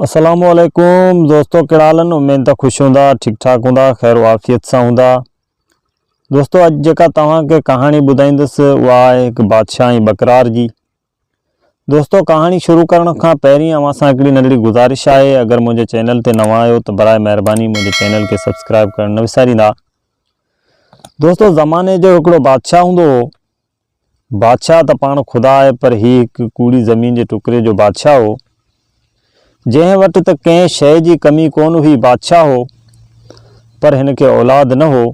السلام عليڪم دوستو ڪهڙا حال آهن اميد ته خوش هوندا ٺيڪ ٺاڪ هوندا خير و عافيت سان هوندا دوستو اڄ جيڪا توهان کي ڪهاڻي ٻڌائيندس اها آهي هڪ بادشاهه ۽ ٻڪرار جي دوستو ڪهاڻي شروع ڪرڻ کان پهرين اوهان سان هڪڙي ننڍڙي گذارش آهي اگر منهنجي چينل تي نوان آهيو ته برائي مهرباني منهنجي چينل کي سبسڪرائب ڪرڻ نه وساريندا دوستو زماني جو هڪڙو بادشاهه هوندو هو بادشاهه ته پاڻ خدا آهي پر هي هڪ ڪوڙي زمين جي ٽڪري جو بادشاهه هو، جنهن وٽ ته ڪنهن شيء جي ڪمي ڪونه هئي، بادشاهه هو پر هن کي اولاد نه هو.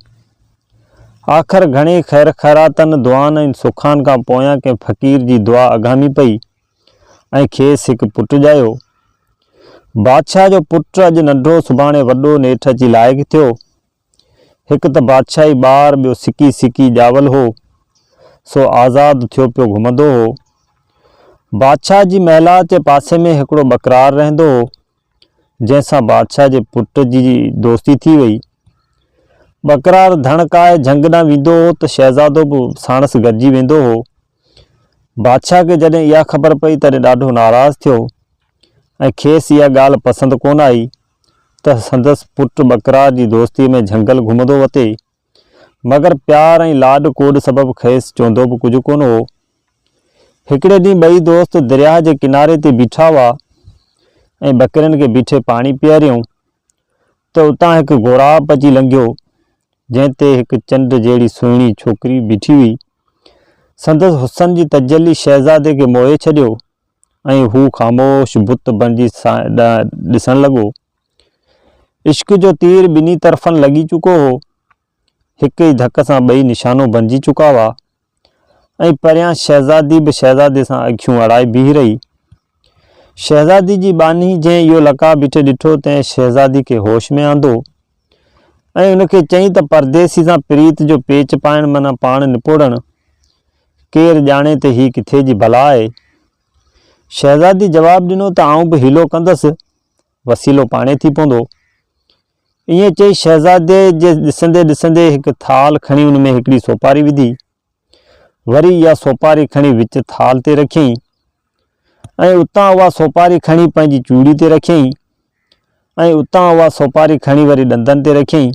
آخر گهڻي خير خيراتن، دعائن ۽ سخان کان پويان ڪنهن فقير جي دعا اگهامي پئي ۽ کيس هڪ پٽ ڄايو. بادشاهه جو پٽ اڄ ننڍو سڀاڻي وڏو نيٺ اچي لائق ٿيو. هڪ ته بادشاهي ٻار ٻيو سڪي سڪي ڄاول هو، سو آزاد ٿيو پيو گهمندو هو. بادشاهه جي محلات جي پاسي ۾ هڪڙو ٻڪرار رهندو هو، جنهن سان بادشاهه جي پٽ جي دوستي ٿي وئي. ٻڪرار ڌڻ ڪاهي جهنگ ڏانهن ويندو هو ته شهزادو به ساڻس گڏجي ويندو هو. بادشاهه کي جڏهن اها خبر پئي تڏهن ڏاڍو ناراض ٿيو ۽ کيس اها ڳالهه پسند ڪونه آئي. ته سندس پٽ ٻڪرار جي دوستيء ۾ جهنگل گهمندو وتي، مگر پيار ۽ لاڏ ڪوڏ سبب کيس چوندو به ڪجهه ڪونه هو. هڪڙي ڏينهن ٻئي دوست درياهه جي ڪناري تي بيٺا هئا ۽ ٻڪرين کي بيٺي پاڻي پياريائون ته اتان هڪ غوراب اچي لنگهيو، جنهن تي هڪ چنڊ جهڙي سهڻي ڇوڪري بيٺي هئي. سندس حسن جي تجلي شهزادي کي موهي ڇڏيو ۽ هو خاموش بت بڻجي سائين ڏانهن ڏسڻ لڳو. عشق جو تير ٻنهي طرفن لڳي چڪو هو. هڪ ئي ڌڪ سان ٻئي نشانو بڻجي چڪا هئا ۽ پريان شهزادي به شهزادي سان اکيون اڙائي بيهي رهي. شهزادي جي ٻانهي جنهن اهو لقاء بيٺي ڏٺو تنهن شهزادي کي هوش ۾ آندو. ۽ ان کي چئين ته پرديسي سان پريت جو پيچ پائڻ معنيٰ پاڻ نپوڙڻ، ڪير ڄاڻي ته هي ڪٿي جي بلا آهي. شهزادي جواب ڏنو ته آئون به حيلو ڪندس، وسيلو پاڻهي ٿي پوندو. ائين چئي شهزادي جي ڏسندي ڏسندي هڪ ٿالهه کڻي ان ۾ هڪڙي سوپاري وڌي وري اها سوپاري کڻي وچ ٿالهه تي رکيائين ۽ اتان اها سوپاري کڻي پنهنجي چوڙي تي رکيائين ۽ اتان اها سوپاري کڻي وري ڏندن تي رکيائين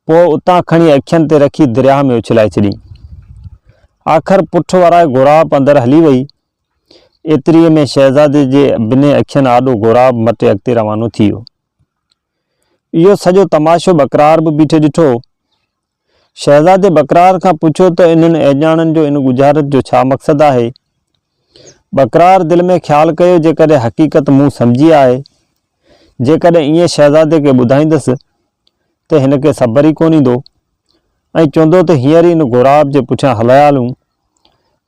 پوء اتان کڻي اکين تي رکي درياهه ۾ اڇلائي ڇڏيائين. آخر پٺ ورائي غوراب اندر هلي وئي. ايتريء ۾ شهزادي جي ٻنهي اکين آڏو غوراب مٽي اڳتي روانو ٿي ويو. اهو سڄو تماشو ٻڪرار به بيٺي ڏٺو شهزادي بڪرار کان پڇيو ته انهن اهڄاڻن جو ان ڳجهارت جو ڇا مقصد آهي؟ بڪرار دل ۾ خيال ڪيو جيڪڏهن حقيقت مون سمجهي آهي، جيڪڏهن ائين شهزادي کي ٻڌائيندس ته هن کي صبر ئي ڪونه ايندو ۽ چوندو ته هينئر ئي ان غوراب جي پٺيان هليا هلون.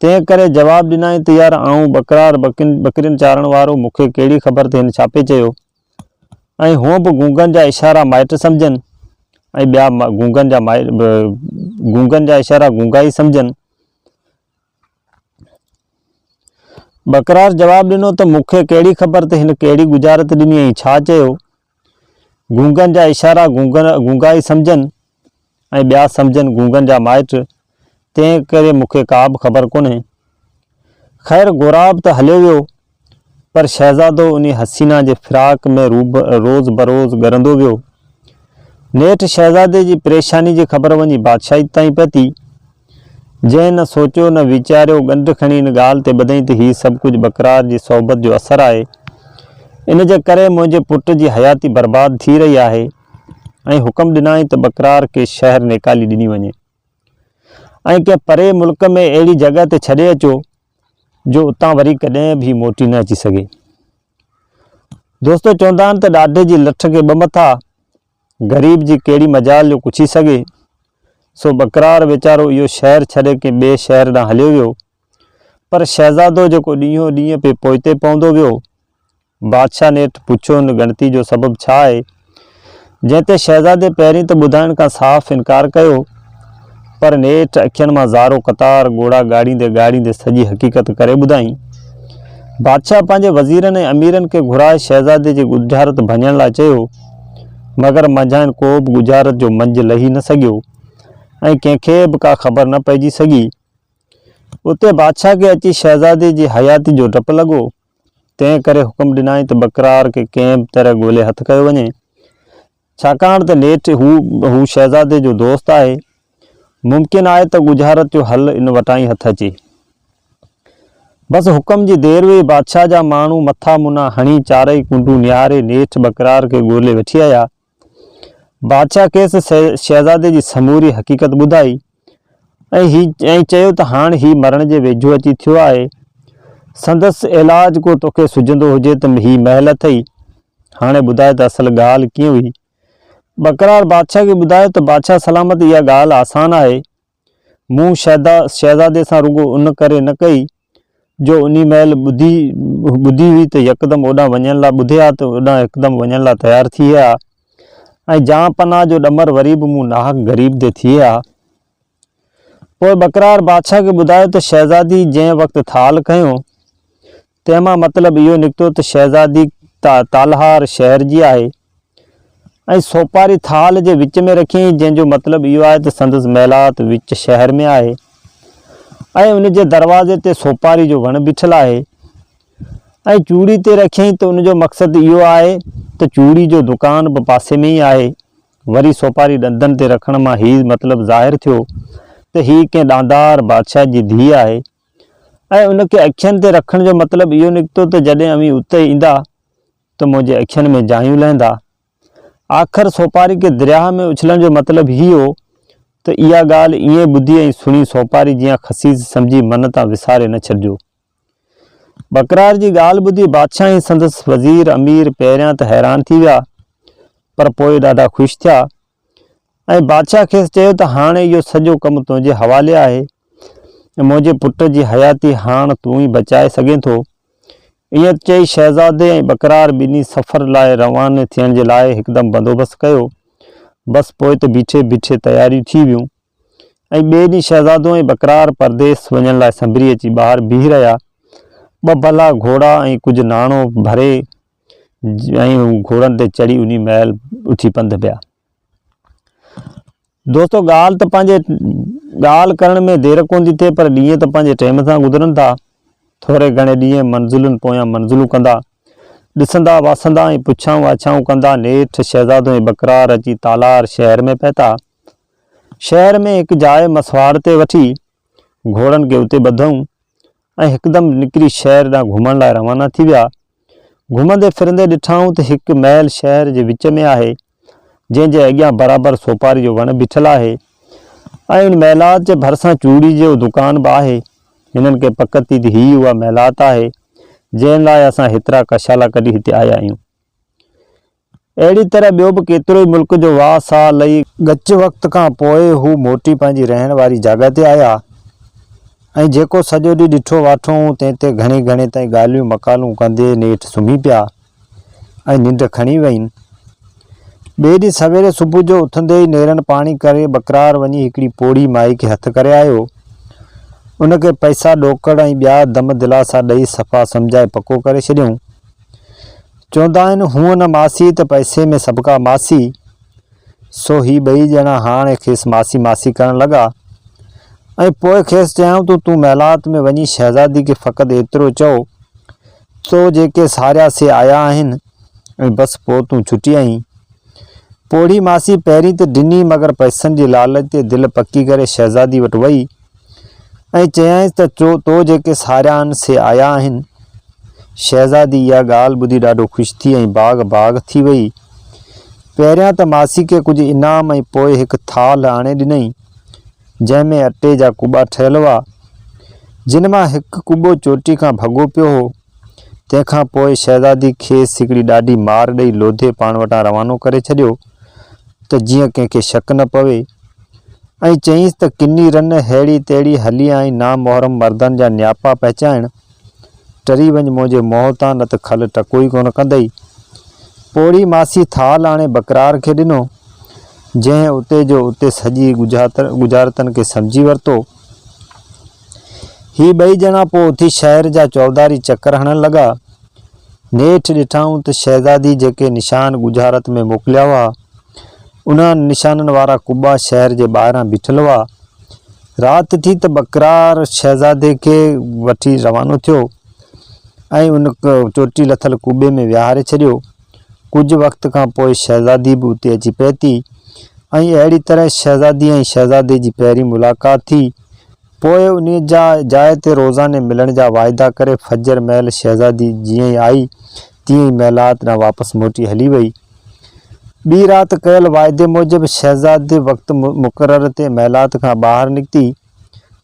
تنهن ڪري جواب ڏنائين ته يار آئون بڪرار، ٻڪرين چارڻ وارو، مون کي ڪهڙي خبر ته هن ڇا پئي چيو؟ ۽ هونء به گونگن جا اشارا مائٽ سمجهن ۽ ٻيا گونگن جا مائٽ به گونگن جا اشارا گونگا ئي سمجهن. ٻڪرار جواب ڏنو ته مون کي ڪهڙي خبر ته هن ڪهڙي ڳجهارت ڏني ۽ ڇا چيو. گونگن جا اشارا گونگا ئي سمجهن ۽ ٻيا سمجهن گونگن جا مائٽ، تنهن ڪري مون کي ڪا به خبر ڪونهي. خير غوراب ته هليو ويو، پر شهزادو انهي حسينه جي فراق ۾ روز بروز ڳرندو ويو. نيٺ شهزادي جي پريشاني جي خبر وڃي بادشاهيت تائين پهتي، جنهن نه سوچيو نه ويچاريو ڳنڍ کڻي ان ڳالهه تي ٻڌئين ته هي سڀ ڪجهه بڪرار جي صحبت جو اثر آهي، ان جي ڪري منهنجي پٽ جي حياتي برباد ٿي رهي آهي. ۽ حڪم ڏنائين ته بڪرار کي شهر نيڪالي ڏني وڃي ۽ ڪنهن پري ملڪ ۾ اهڙي جڳهه تي ڇڏي اچو جو اتان وري ڪڏهن به موٽي نه اچي سگهي. دوستو چوندا آهن ته ڏاڍي جي لٺ کي ٻه مٿا، غريب جي ڪهڙي مجال جو ڪڇي سگهي، سو بڪرار ويچارو اهو شهر ڇڏي ڪنهن ٻئي شهر ڏانهن هليو ويو، پر شهزادو جيڪو ڏينهون ڏينهن پئي پوئتي پوندو ويو بادشاهه نيٺ پڇيو هن ڳڻتي جو سبب ڇا آهي؟ جنهن تي شهزادي پهرين ته ٻڌائڻ کان صاف انڪار ڪيو پر نيٺ اکين مان زارو قطار ڳوڙها ڳاڙيندي ڳاڙيندي سڄي حقيقت ڪري ٻڌائين. بادشاهه پنهنجي وزيرن ۽ اميرن کي گهرائي شهزادي جي ڳجهارت ڀڃڻ لاء چيو مگر منجهانئن ڪوبه ڳجهارت جو منجهه لهي نه سگهيو ۽ ڪنهن کي به ڪا خبر نه پئجي سگهي. اتي بادشاهه کي اچي شهزادي جي حياتي جو ڊپ لڳو. تنهن ڪري حڪم ڏنائين ته بڪرار کي ڪنهن به طرح ڳولي هٿ ڪيو وڃي، ڇاڪاڻ ته نيٺ هو هو شهزادي جو دوست آهي، ممڪن آهي ته ڳجهارت جو حل ان وٽان ئي هٿ اچي. بس حڪم جي دير هئي، بادشاهه جا ماڻهو مٿا منا هڻي چارئي ڪنڊون نهاري نيٺ بڪرار کي ڳولي وٺي آيا ۽ بادشاهه کيس شهزادي جي سموري حقيقت ٻڌائي ۽ چيو ته هاڻ هي مرڻ جي ويجهو اچي ٿيو آهي. سندس علاج ڪو توکي سجهندو هجي ته هي محل اٿئي. هاڻي ٻڌاء ته اصل ڳالهه ڪيئن هئي. ٻڪرار بادشاهه کي ٻڌايو ته بادشاهه سلامت اها ڳالهه آسان آهي مون شيدا شهزادي سان رڳو ان ڪري نه ڪئي جو انهي مهل ٻڌي ٻڌي هئي ته يڪدم اوڏانهن وڃڻ لاء ٻڌي ها ته اوڏانهن هڪدم وڃڻ لاء تيار ٿئي ها ۽ جان پناهه جو ڏمر وري به مون ناحق غريب تي ٿئي ها. پوء ٻڪرار بادشاهه کي ٻڌايو ته شهزادي جنهن وقت ٿال کنيو تنهن مان مطلب اهو نڪتو ته شهزادي تالهار شهر جي آهي ۽ سوپاري ٿال جي وچ ۾ رکيائين، جنهن جو مطلب اهو آهي ته سندس محلات وچ شهر ۾ آهي ۽ ان جي دروازي تي سوپاري جو وڻ بيٺل آهي ۽ چوڙي تي رکيائين ته ان جو مقصد اهو آهي ته چوڙي جو دڪان به پاسي ۾ ئي آهي. وري سوپاري ڏندن تي رکڻ مان هي مطلب ظاهر ٿيو ته هي ڪنهن ڏاندار بادشاهه جي ڌيء آهي. ۽ ان کي اکين تي رکڻ جو مطلب اهو نڪتو ته جڏهن اوهين اتي ايندا ته منهنجي اکين ۾ جايون لهندا. آخر سوپاري کي درياهه ۾ اڇلڻ جو مطلب هي هو ته اها ڳالهه ايئن ٻڌي ۽ سڻي سوپاري جيان خسيس سمجهي من تان وساري نه ڇڏجو. ٻڪرار جي ڳالهه ٻڌي بادشاهه ۽ سندس وزير، امير، پهريان ته حيران ٿي ويا پر پوء ڏاڍا خوش ٿيا ۽ بادشاهه کيس چيو ته هاڻ اهو سڄو ڪم تنهنجي حوالي آهي ۽ منهنجي پٽ جي حياتي هاڻ تون ئي بچائي سگهين ٿو. ائين چئي شهزادي ۽ ٻڪرار ٻنهي سفر لاء رواني ٿيڻ جي لاء هڪدم بندوبست ڪيو. بس پوء ته بيٺي بيٺي تياريون ٿي ويون ۽ ٻئي ڏينهن شهزادو ۽ ٻڪرار پرديس وڃڻ لاء سنڀري اچي ٻاهر بيهي رهيا. ٻه ڀلا گهوڙا ۽ ڪجهه ناڻو ڀري ۽ هو گهوڙن تي چڙهي انهي مهل اٿي پنڌ پيا. دوستو ڳالهه ته پنهنجي ڳالهه ڪرڻ ۾ دير ڪونه ٿي ٿئي پر ڏينهن ته پنهنجي ٽيم سان گذرن ٿا. ٿوري گهڻي ڏينهن منزلن پويان منزلون ڪندا، ڏسندا واسندا ۽ پڇائون آڇائون ڪندا نيٺ شهزادو ۽ بڪرار اچي تالار شهر ۾ پهتا. شهر ۾ هڪ جاء مسواڙ تي وٺي گهوڙن کي اتي ٻڌئون. ۽ هڪدم نڪري شهر ڏانهن گهمڻ لاء روانا ٿي ويا. گهمندي ڦرندي ڏٺائون ته هڪ محل شهر جي وچ ۾ آهي، جنهن جي اڳيان برابر سوپاري جو وڻ بيٺل آهي ۽ ان محلات جي ڀرسان چوڙي جو دڪان به آهي. هنن کي پڪ ٿي ته هي ئي اها محلات آهي، جنهن لاء اسان هيترا ڪشالا ڪڍي هتي آيا آهيون. اهڙي طرح ٻيو به ڪيترو ئي ملڪ جو واهه ساهه لهي ڳچ وقت کان پوء هو موٽي پنهنجي رهڻ واري جاڳهه تي آيا ۽ جيڪو سڄو ڏينهن ڏٺو واٺو هئون تنهن تي گهڻي گهڻي تائين ڳالهيون مقالون ڪندي نيٺ سمهي پيا ۽ ننڊ کڻي وين. ٻئي ڏينهن سويري صبح جو اٿندي ئي نيرن پاڻي ڪري ٻڪرار وڃي هڪڙي پوڙهي مائي کي هٿ ڪري آيو. ان کي پئسا ڏوڪڙ ۽ ٻيا دم دلاسا ڏئي صفا سمجهائي پڪو ڪري ڇڏيائون. چوندا آهن هونء نه ماسي ته پئسي ۾ سڀڪا ماسي، سو هي ٻئي ڄڻا هاڻ کيس ماسي ماسي ڪرڻ لڳا ۽ پوء کيس چيائون ته تون محلات ۾ وڃي شهزادي کي فقط ايترو چئو تو جيڪي ساريا سي آيا آهن ۽ بس پوء تون ڇٽي آئين. پوڙهي ماسي پهرين ته ڏني مگر پئسن جي لالچ تي دل پڪي ڪري شهزادي وٽ وئي. ۽ چيائينس ته تو جيڪي ساريا آهن سي آيا آهن. شهزادي اها ڳالهه ٻڌي ڏاڍو خوش ٿي ۽ باغ باغ ٿي ويئي. پهريان ته ماسي کي ڪجهه انعام ۽ پوء هڪ ٿالهه آڻي ڏنائين، جنهن ۾ اٽي جا ڪٻا ٺهيل هئا، جن مان هڪ ڪٻو چوٽي کان ڀڳو پيو هو. تنهن کان پوء شهزادي کيس هڪڙي ڏاڍي مار ڏئي لوڌي پاڻ وٽان روانو ڪري ڇڏيو ته جيئن ڪنهن کي شڪ نه پوي ۽ چيائينس ته ڪني رن ههڙي تهڙي هلي آئين نامحرم مردن جا نياپا پهچائڻ ٽري وڃ منهنجي منهن تان نه ته کل ٽڪو ئي ڪونه ڪندئي. پوڙهي ماسي ٿال آڻي بڪرار کي ڏنو جنهن اتي جو اتي سڄي ڳجهارتن کي سمجهي ورتو. هي ٻئي ڄڻا پوء اٿي شهر جا چوڌاري چڪر هڻڻ لڳا. نيٺ ڏٺائون ته شهزادي جيڪي نشان ڳجهارت ۾ موڪليا هئا، انهن نشانن وارا قبا شهر جي ٻاهران بيٺل هئا. رات ٿي ته ٻڪرار شهزادي کي وٺي روانو ٿيو ۽ ان چوٽي لٿل قبي ۾ ويهاري ڇڏيو. ڪجهه وقت کان پوء شهزادي به اتي اچي پهتي ۽ اهڙي طرح شهزادي ۽ شهزادي جي پهرين ملاقات ٿي. پوء انهي جا جاء تي روزاني ملڻ جا واعدا ڪري فجر مهل شهزادي جيئن ئي آئي تيئن ئي محلات ڏانهن واپس موٽي هلي وئي. ٻي رات ڪيل واعدي موجب شهزادي وقت مقرر تي محلات کان ٻاهر نڪتي.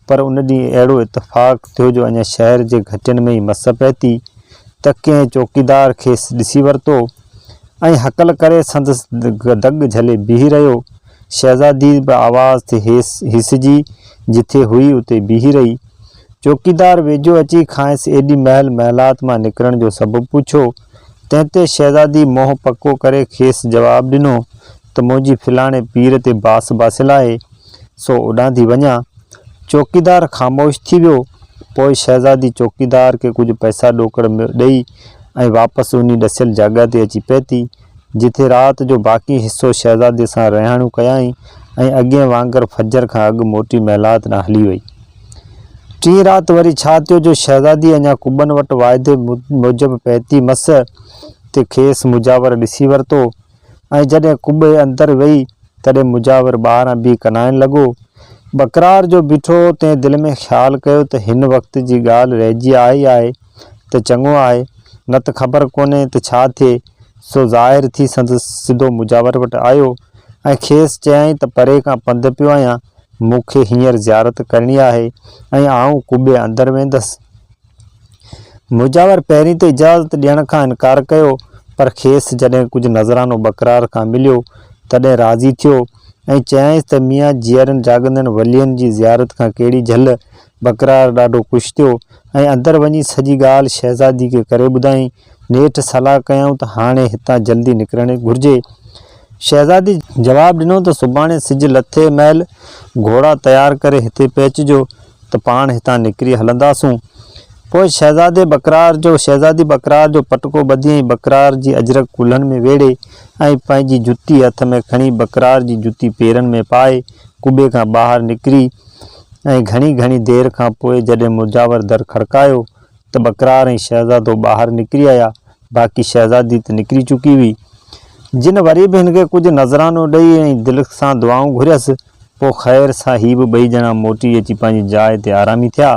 پر ان ڏينهن اهڙو اتفاق ٿيو جو اڃا شهر جي گهٽين ۾ ئي مس پهتي ته ڪنهن چوڪيدار کيس ڏسي ورتو ۽ هڪل ڪري سندس دڳ جهلي بيهي رهيو. شهزادي به آواز تي هيسجي جٿي هئي اتي بيهي رهي. چوڪيدار ويجهو اچي کانئس ايڏي مهل محلات مان نڪرڻ جو سبب پڇيو، تنهن تي شهزادي منهن پڪو ڪري کيس جواب ڏنو ته منهنجي فلاڻي پير تي باس باسيل آهي، سو اوڏانهن ٿي وڃان. چوڪيدار خاموش ٿي ويو. پوء شهزادي چوڪيدار کي ڪجهه پئسا ڏوڪڙ ۾ ڏئي ۽ واپس انهي ڏسيل جاڳهه تي اچي پهتي، جتي رات جو باقي حصو شهزادي سان رهاڻيون ڪيائين ۽ اڳين وانگر فجر کان اڳ موٽي محلات ڏانهن هلي وئي. ٽين رات وري ڇا ٿيو جو شهزادي اڃا قبن وٽ واعدي موجب پهتي مس ته کيس مجاور ڏسي ورتو. ۽ جڏهن قبي اندر ويئي، تڏهن مجاور ٻاهران بيهي ڪنائڻ لڳو. بڪرار جو بيٺو هو، تنهن دل ۾ خيال ڪيو ته هن وقت جي ڳالهه رهجي آئي آهي ته چڱو آهي، نه ته خبر ڪونهي ته ڇا ٿئي، سو ظاهر ٿي سندس سڌو مجاور وٽ آيو ۽ کيس چيائين ته پري کان پنڌ پيو آهيان، مون کي هينئر زيارت ڪرڻي آهي ۽ آئون قبي اندر ويندس. مجاور پهرين ته اجازت ڏيڻ کان انڪار ڪيو، پر کيس جڏهن ڪجهه نذرانو بڪرار کان مليو، تڏهن راضي ٿيو ۽ چيائينس ته ميان جيئرن جاڳندڙن ولين جي زيارت کان ڪهڙي جهل! بڪرار ڏاڍو خوش ٿيو ۽ اندر وڃي سڄي ڳالهه شهزادي کي ڪري ٻڌائين. نيٺ صلاح ڪيائون ته هاڻي هتان جلدي نڪرڻ گهرجي. شهزادي جواب ڏنو ته سڀاڻي سج لٿي مهل گهوڙا تيار ڪري هتي پهچجو ته پاڻ هتان نڪري هلنداسون. پوء شهزادي بڪرار جو شهزادي بڪرار جو پٽڪو ٻڌي ۽ بڪرار جي اجرڪ ڪلهن ۾ ويڙهي ۽ پنهنجي جتي هٿ ۾ کڻي بڪرار جي جتي پيرن ۾ پائي قبي کان ٻاهر نڪري ۽ گهڻي گهڻي دير کان پوء جڏهن مجاور در کڙڪايو ته بقرار ۽ شهزادو ٻاهر نڪري آيا، باقي شهزادي ته نڪري چڪي هئي. جن وري به هن کي ڪجهه نذرانو ڏئي ۽ دل سان دعائون گهريس، پوء خير سان هي به ٻئي ڄڻا موٽي اچي پنهنجي جاء تي آرامي ٿيا.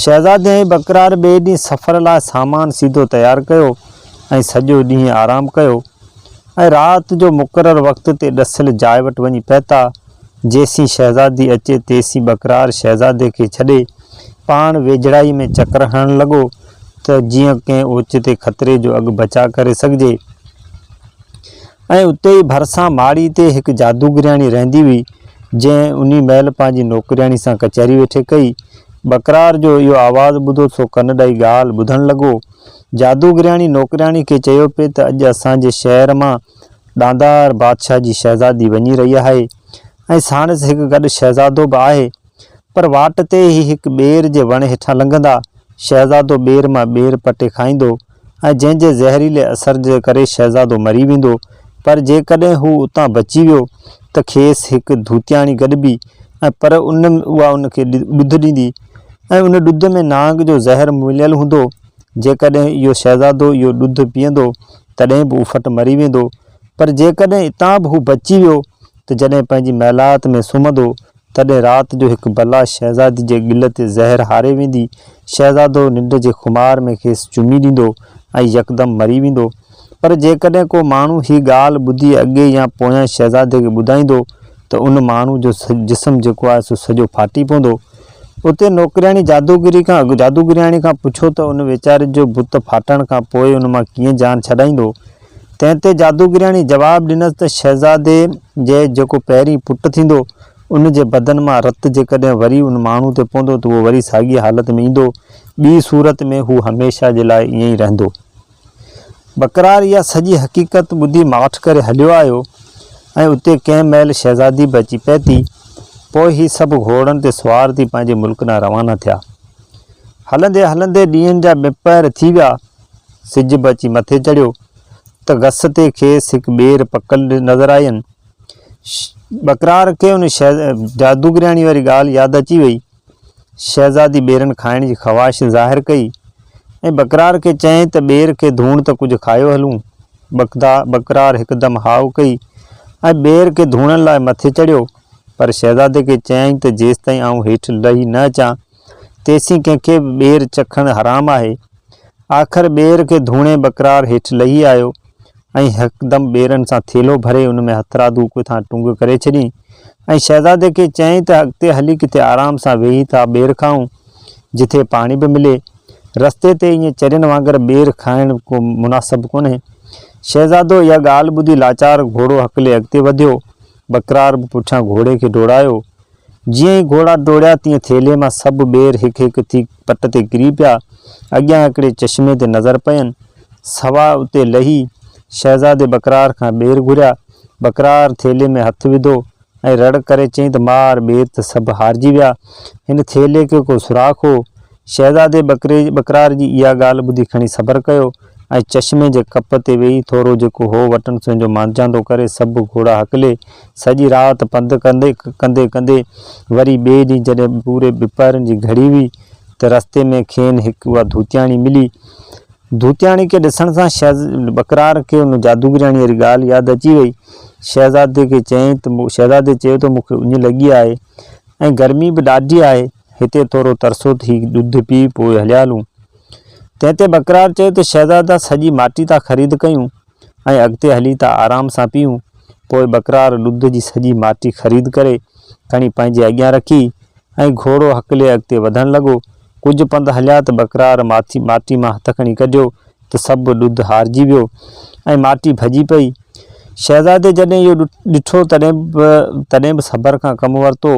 شهزادي ۽ بقرار ٻئي ڏينهن سفر لاء سامان سيڌو تيار ڪيو ۽ سڄو ڏينهن آرام ڪيو ۽ رات جو مقرر وقت تي ڏسيل جاء وٽ وڃي پهتا. جيسين شهزادي اچي تيسين ٻڪرار شهزادي کي ڇڏي پاڻ ويجهڙائي ۾ چڪر هڻڻ لڳو ته جيئن ڪنهن اوچتي خطري جو اڳ بچاء ڪري سگهجي ۽ اتي ئي ڀرسان ماڙي تي هڪ جادوگرياڻي رهندي هئي جنهن انهي مهل پنهنجي نوڪرياڻي سان ڪچهري ويٺي ڪئي. ٻڪرار جو اهو آواز ٻڌو سو ڪن ڏئي ڳالهه ٻڌڻ لڳو. جادوگرياڻي نوڪرياڻي کي چيو پئي ته اڄ اسان جي شهر مان ڏاندار بادشاهه جي شهزادي وڃي رهي آهي ۽ ساڻس هڪ گڏ شهزادو به آهي پر واٽ تي هي هڪ ٻير جي وڻ هيٺان لنگهندا. شهزادو ٻير مان ٻير پٽي کائيندو ۽ جنهن جي زهريلي اثر جي ڪري شهزادو مري ويندو پر جيڪڏهن هو اتان بچي ويو ته کيس هڪ ڌوتياڻي گڏبي ۽ پر ان اها ان کي ڏڌ ڏيندي ۽ ان ڏڌ ۾ نانگ جو زهر مليل هوندو جيڪڏهن اهو شهزادو اهو ڏڌ پيئندو تڏهن به افٽ مري ويندو، پر جيڪڏهن اتان به هو بچي ويو ته جڏهن پنهنجي محلات ۾ سمهندو، تڏهن رات جو هڪ بلا شهزادي جي ڳل تي زهر هاري ويندي، شهزادو ننڊ جي خمار ۾ کيس چمي ڏيندو ۽ يڪدم مري ويندو. پر جيڪڏهن ڪو ماڻهو هي ڳالهه ٻڌي اڳي يا پويان شهزادي کي ٻڌائيندو ته ان ماڻهو جو جسم جيڪو آهي سو سڄو ڦاٽي پوندو. اتي نوڪرياڻي جادوگري کان اڳ جادوگرياڻي کان پڇيو ته ان ويچاري جو بت ڦاٽڻ کان پوء ان مان ڪيئن جان ڇڏائيندو؟ تنهن تي جادوگرياڻي جواب ڏنس ته شهزادي جي جيڪو پهرين پٽ ٿيندو، ان جي بدن مان رت جيڪڏهن وري ان ماڻهو تي پوندو ته اهو وري ساڳيء حالت ۾ ايندو، ٻيء صورت ۾ هو هميشه جي لاء ائين ئي رهندو. بقرار اها سڄي حقيقت ٻڌي ماٺ ڪري هليو آيو ۽ اتي ڪنهن مهل شهزادي به اچي پهتي. پوء هي سڀ گهوڙن تي سوار ٿي پنهنجي ملڪ ڏانهن روانا ٿيا. هلندي هلندي ڏينهن جا ٻه پهر ٿي ويا. سج به اچي مٿي چڙهيو ته گسٽي کيس هڪ ٻير پڪل نظر آين. بقرار کي ان جادوگرياڻي واري ڳالهه ياد اچي وئي. شهزادي ٻيرن کائڻ جي خواهش ظاهر ڪئي ۽ بڪرار کي چيائين ته ٻير کي ڌوڻ ته ڪجهه کايو هلون. بڪدا، بڪرار هڪدم هاء ڪئي ۽ ٻير کي ڌوڻڻ لاء مٿي چڙهيو، پر شهزادي کي چيائين ته جيستائين آئون هيٺ لهي نه اچان، تيسين ڪنهن کي به ٻير چکڻ حرام آهي. آخر ٻير کي ڌوڻي بڪرار هيٺ لهي آيو. ۽ ھڪدم ٻيرن سان ٿيلھو ڀري ان ۾ ھٿرادو اڪ ٿان ٽنگ ڪري ڇڏيئي ۽ شھزادي کي چيائين ته اڳتي ھلي ڪٿي آرام سان ويھي ٿا ٻير کائون جتي پاڻي به ملي. رستي تي ائين چرين وانگر ٻير کائڻ ڪو مناسب ڪونھي. شھزادو اھا ڳالھه ٻڌي لاچار گھوڙو ھڪلي اڳتي وڌيو. ٻڪرار به پٺيان گھوڙي کي ڊوڙايو. جيئن ئي گهوڙا ڊوڙيا تيئن ٿيلهي مان سڀ ٻير هڪ هڪ ٿي پٽ تي ڪري پيا. اڳيان هڪڙي چشمي تي نظر پين. سوا اتي لهي، شهزادي بڪرار کان ٻير گهريا. بڪرار ٿيلهي ۾ هٿ وڌو ۽ رڙ ڪري چيائين ته مار ٻير ته سڀ هارجي ويا. هن ٿيلهي کي ڪو سوراخ هو. شهزادي بڪرار جي اها ڳالهه ٻڌي کڻي صبر ڪيو. ۽ چشمي جي ڪپ تي ويهي ٿورو جيڪو هو وٽن سو انجو مانجهاندو ڪري سڀ گهوڙا هڪلي سڄي رات پنڌ ڪندي ڪندي ڪندي وري ٻئي ڏينهن جڏهن پوري ٻپهرن جي گهڙي هئي ته رستي ۾ کين هڪ اها ڌوتياڻي ملي. ڌوتياڻي کي ڏسڻ سان شهز ٻڪرار کي ان جادوگرياڻي واري ڳالهه ياد اچي وئي. شهزادي کي چيائين ته شهزادي چيو ته مون کي اڃ لڳي آهي ۽ گرمي به ڏاڍي آهي. هتي ٿورو ترسو ته هي ڏڌ پي پوء هليالون. تنهن تي بڪرار چيو ته شهزادا سڄي ماٽي تان خريد ڪيون ۽ اڳتي هلي ته آرام سان پيئون. پوء بڪرار ڏڌ جي سڄي ماٽي خريد ڪري کڻي پنهنجي اڳيان رکي ۽ گهوڙو هڪلي اڳتي وڌڻ لڳو. ڪجهه پنڌ هليا ته بڪرار ماٿي ماٽي مان هٿ کڻي ڪڍيو ته سڀ ڏڌ هارجي ويو ۽ ماٽي ڀڄي پئي. شهزادي جڏهن اهو ڏٺو تڏهن به تڏهن به صبر کان ڪم ورتو.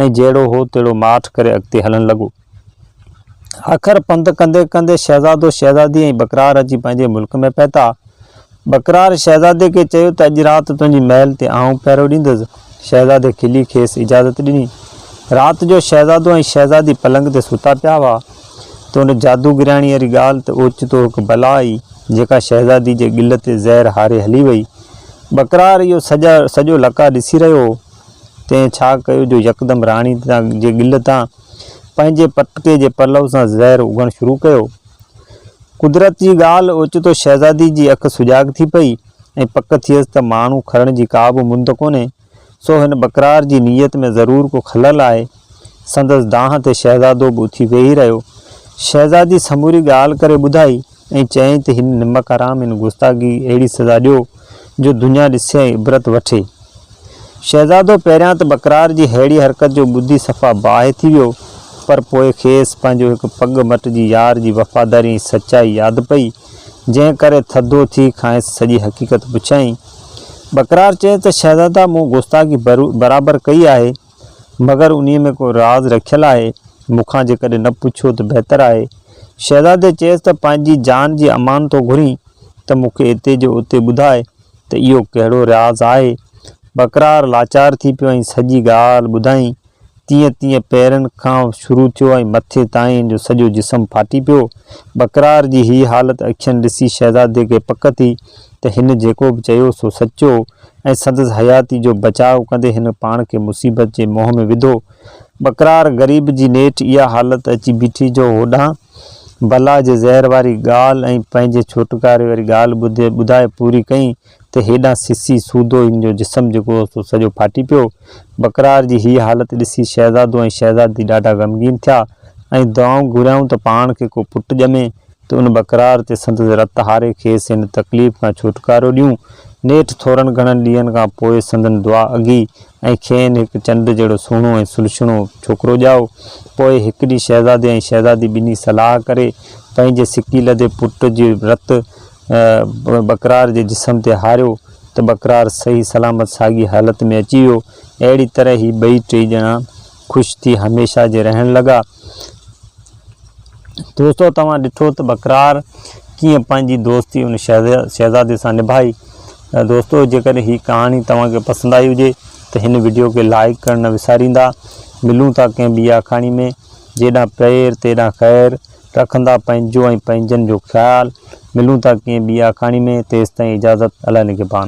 ۽ جهڙو هو تهڙو ماٺ ڪري اڳتي هلڻ لڳو. آخر پنڌ ڪندي ڪندي شهزادو شهزادي ۽ بڪرار اچي پنهنجي ملڪ ۾ پهتا. بڪرار شهزادي کي چيو ته اڄ رات تنهنجي محل تي آئون پهرو ڏيندس. شهزادي کلي کيس اجازت ڏني. رات جو شهزادو ۽ شهزادي پلنگ تي ستا پيا هئا ته ان جادوگرياڻي واري ڳالهه تي اوچتو هڪ بلا آئي، جيڪا شهزادي جي ڳل تي زهر هاري هلي وئي. بڪرار اهو سڄو لقاء ڏسي رهيو هو. تنهن ڇا ڪيو جو يڪدم راڻي جي ڳل تان پنهنجي پٽڪي جي پلو سان زهر اگهڻ شروع ڪيو. قدرت جي ڳالهه اوچتو شهزادي جي اک سجاڳ ٿي پئي ۽ پڪ ٿيس ته ماڻهو کرڻ جي ڪا به مند ڪونهي، سو هن بڪرار جي نيت ۾ ضرور ڪو خلل آهي. سندس دانهن تي شهزادو به اٿي ويهي رهيو. شهزادي سموري ڳالهه ڪري ٻڌائي. ائين چئين ته هن نمڪ حرام هن گستاخي اهڙي سزا ڏيو جو دنيا ڏسي ۽ عبرت وٺي. شهزادو پهريان ته بڪرار جي ههڙي حرڪت جو ٻڌي صفا باهه ٿي ويو پر پوء کيس پنهنجو هڪ پڳ مٽ جي يار جي وفاداري ۽ سچائي ياد پئي جنهن ڪري ٿڌو ٿي کانئس سڄي حقيقت پڇيائين. بڪرار چيس ته شهزادا مون گستاخي برابر ڪئي آهي. مگر انهيء ۾ ڪو راز رکيل آهي، مون کان جيڪڏهن نه پڇو ته بهتر آهي. شهزادي چيس ته پنهنجي جان جي امان ٿو گهرين ته مون کي اتي جو اتي ٻڌاء ته اهو ڪهڙو راز آهي. ٻڪرار لاچار ٿي پيو ۽ سڄي ڳالهه ٻڌائين. تيئن تيئن پيرن کان شروع ٿيو ۽ مٿي تائين جو سڄو جسم ڦاٽي پيو. ٻڪرار جي هيء حالت اکين ڏسي شهزادي کي پڪ ٿي ته هن جيڪو به چيو سو سچو ۽ سندس حياتي جو بچاء ڪندي هن پاڻ کي مصيبت جي منهن ۾ وڌو. ٻڪرار غريب جي نيٺ اها حالت اچي بيٺي جو هوڏانهن بلا جي زهر واري ڳالهه ۽ پنهنجي ڇوٽڪاري واري ڳالهه ٻڌي ٻڌائي پوري ڪئين ته هيڏانهن سسي سودو هن جو جسم جيڪو هو سو سڄو ڦاٽي پيو. ٻڪرار جي هيء حالت ڏسي شهزادو ۽ شهزادي ڏاڍا غمگين ٿيا ۽ دعائون گهريائون ته پاڻ کي ڪو پٽ ڄمي ته ان بقرار تي سندس رت هاري کيس هن تڪليف کان ڇوٽڪارو ڏيون. نيٺ ٿورن گهڻن ڏينهن کان پوء سندن دعا اگهي ۽ کين هڪ چنڊ جهڙو سهڻو ۽ سلڇڻو ڇوڪرو ڄائو. پوء هڪ ڏينهن شهزادي ۽ شهزادي ٻنهي صلاح ڪري پنهنجي سڪي لڌي پٽ جي رت بقرار جي جسم تي هاريو ته بقرار صحيح سلامت ساڳي حالت ۾ اچي ويو. اهڙي طرح هي ٻئي ٽئي ڄڻا خوش ٿي هميشه جي رهڻ لڳا. دوستو توهان ڏٺو ته بڪرار ڪيئن پنهنجي دوستي ان شهزادي سان نڀائي. دوستو جيڪڏهن هي ڪهاڻي توهان کي پسند آئي هجي ته هن وڊيو کي لائيڪ ڪرڻ نه وساريندا. ملون ٿا ڪنهن ٻي آکاڻي ۾. جيڏانهن پير تيڏانهن خير. رکندا پنهنجو ۽ پنهنجن جو خيال. ملون ٿا ڪنهن ٻي آکاڻي ۾ تيستائين اجازت الله نگهبان.